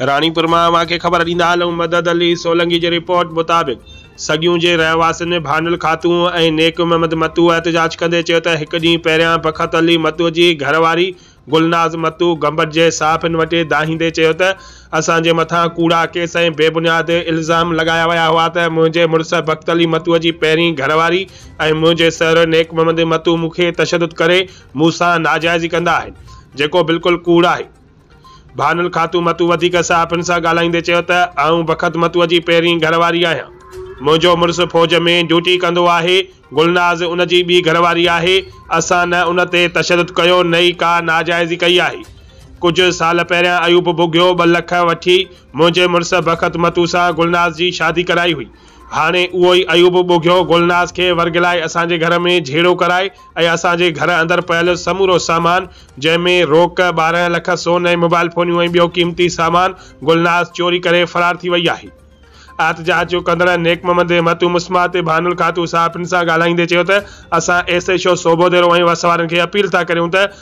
راڻيپور مان ماکي خبر ڏيندا هلون مدد علي سولنگي جي رپورٽ مطابق سڳيون جي رهواسين ۾ ڀانڊل خاتون ۽ نيڪ محمد متو احتجاج ڪندي چيو ته هڪ ڏينهن پهريان بخت علي متو جي گهر واري گلناز متو گمبٽ جي صحافين وٽي دانهيندي چيو ته اسان جي مٿان ڪوڙا ڪيس ۽ بي بنياد الزام لڳايا ويا هئا ته منهنجي مڙس بخت علي متو جي پهرين گهر واري ۽ منهنجي سهرو نيڪ محمد متو مون کي تشدد ڪري مون سان ناجائزي ڪندا آهن جيڪو بلڪل ڪوڙ آهي. بانل خاتون متو وڌيڪ صحافين سان ڳالهائيندي چيو ته آئون بخت متو جي پهرين گهر واري آهيان، منهنجو مڙس فوج ۾ ڊيوٽي ڪندو آهي، گلناز ان جي ٻي گهر واري آهي، اسان نه ان تي تشدد ڪيو نه ئي ڪا ناجائزي ڪئي آهي، ڪجهه سال پهريان ايوب ٻگهيو ٻه لک وٺي منهنجي مڙس بخت متو سان گلناز جي شادي ڪرائي هئي، هاڻي اهو ئي ايوب ٻگهيو گلناز کي ورغلائي اسان جي گهر ۾ جهيڙو ڪرائي ۽ اسان جي گهر اندر پيل سمورو سامان جنهن ۾ روڪ، ٻارهن لک سون ۽ موبائل فونيون ۽ ٻيو قيمتي سامان گلناز چوري ڪري فرار ٿي وئي آهي. احتجاج جو ڪندڙن نيڪ محمد متو مسمار تي بانو الخاتون صاحبن سان ڳالهائيندي چيو ته اسان S H O Sobho Dero ۽ وس وارن کي اپيل ٿا ڪريون ته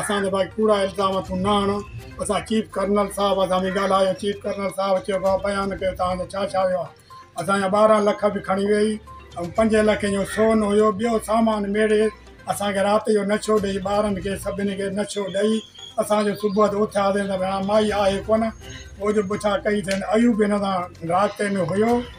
اسان تي ڀائي ڪوڙا الزام تون نه هڻ اسان چيف ڪرنل صاحب سان به ڳالهايو چيف ڪرنل صاحب چيو ڀاء بيان ڪيو تان جو ڇا ڇا ويو آهي اسان جا ٻارهن لک به کڻي ويئي ۽ پنج لکين جو سون هيو ٻيو سامان ميڙي اسان کي رات جو نڇو ڏئي ٻارن کي سڀني کي نڇو ڏئي اسان جو صبح جو اٿياسين ته ڀيڻا مائي آهي ڪونه پوء جو پڇا ڪئي اٿن ايوب هن سان رابطي ۾ هيو